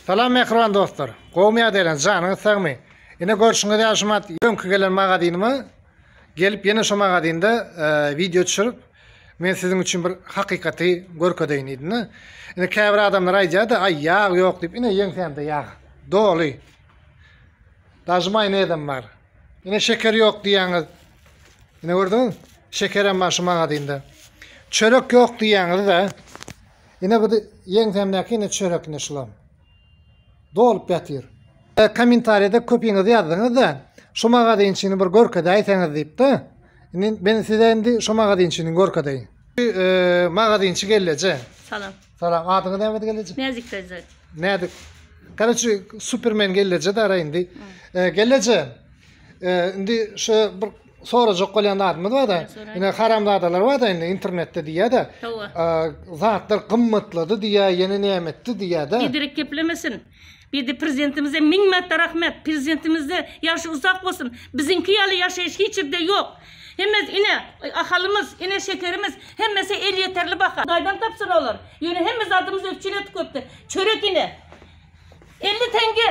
Salam mähriban dostlar. Gowmy ýagdaýlaryň, janyňyz sagmy? Ine görşüňiz ýaly şu mat öňki gelen magazynyma gelip ýene şu magazynda e, wideo düşürip men siziň üçin bir hakykaty görkezeýin diýdim-de. Ine käbir adamlar aýdýar-da, aý ýag ýok diýip, ine ýeňsämde ýag. Doly. Daşy maýonezem bar. Ine şeker ýok diýýäňiz. Ine gördüňiz? Şekerem bar şu magazynda. Çörek ýok diýýäňiz-de. Ine bu ýeňsämdäki ine çörek ine şulam. Dolup ýatyr. Kommentariýada köpiňiz ýazdyňyzda şu magazynçyny bir görkezäýseňiz diýipdi. Indi men size indi şu magazynçyny görkezeýin. Magazynçy gelleje. Salam. Salam. Adyňyz nämedi gelleje? Näzik daýza. Näzik. Garaçy supermen gelleje dara indi. Gelleje. Indi şu bir sorajak bolýan zadymyz bar-da, ine haramzadalar bar-da indi internetde diýýär-de, zatlar gymmatlady diýýär, ýene näme etdi diýýär-de. Biderek geplemesin. Bide prezidentimize müň märtde rahmet. Prezidentimizde ýaşy uzak bolsun. Biziňki ýaly ýaşaýyş hiç ýerde ýok. Hemme ine Ahalymyz, ine Şekerimiz hemmesi elýeterli baha. Gaýdan tapsyn olar. Ýöne hemme zadymyz üpjün etdi köpden. Çörek ine elli teňge.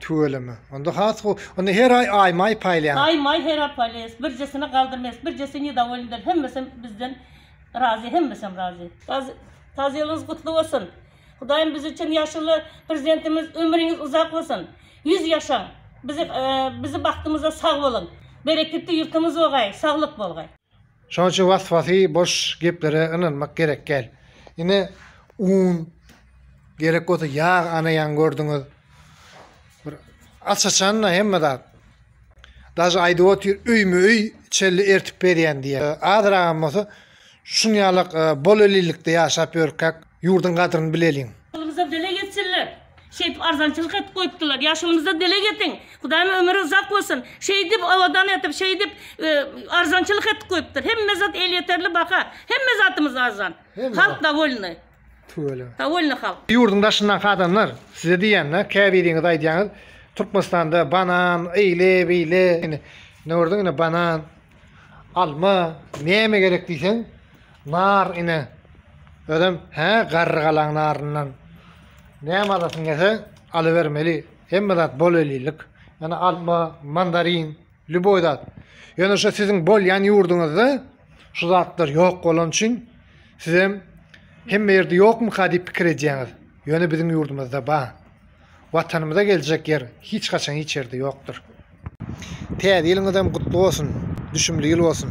Tüweleme. Onda has gowy. Onda her aý aý maý paýlaýaňyz. Aý maý her aý paýlaýas. Birjesini galdyrmaýas. Birjesi nedowolnydyr. Hemmesem bizden razy. Hemmesem razy. Tazylygyňyz gutly bolsun. Hudaýym biz üçin ýaşuly prezidentimiz ömrüňiz uzak bolsun. Ýüz ýaşaň. Bizi bizi bagtymyza sag boluň. Bereketli ýurtumyz bogaý. Saglyk bolgaý. Şonuň üçin was-wasy boş geplere ynanmak gerek däl. Ine un gerek bolsa ýag ana ýaň gördüňiz. Bir aç-açanda hemme zat. Daže aýdyp otyr öýme-öý çelli ertip berýän diýýär. Azragam bolsa şuň ýalak e, bol elilikde ýaşap ýörkäk Ýurdyň gadryny bileliň. Ýaşulymyza dileg etsinler. Şeýdip arzançylyk edip goýupdylar. Ýaşulymyza dileg etiň. Hudaýym ömüri uzak bolsun. Şeýdip abadan etip, şeýdip arzançylyk edip goýupdyr. Hemme zat elýeterli baha. Hemme zatymyz arzan. Halk dowolnyý. Tüweleme. Dowolnyý halk. Ýurdyň daşyndaky adamlar size diýende käbiriňiz aýdýaňyz Türkmenistanda banan, eýle, beýle. Ine gördüň ine banan, alma näme gerek diýseň. Nar ine. Özem hä garry galaň naryndan. Näme alasyň gelse alybermeli. Hemme zat bol ellilik. Ýöne alma, mandarin, lýuboý zat. Ýöne şu siziň bolýan ýurduňyzda şu zatlar ýok bolany üçin sizem hemme ýerde ýokmyka diýip pikir edýäňiz. Ýöne biziň ýurdumyzda bar. Watanymyza geljek ýer hiç haçan hiç ýerde ýokdur. Täze ýylyňyzam gutly bolsun, düşümli ýyl bolsun.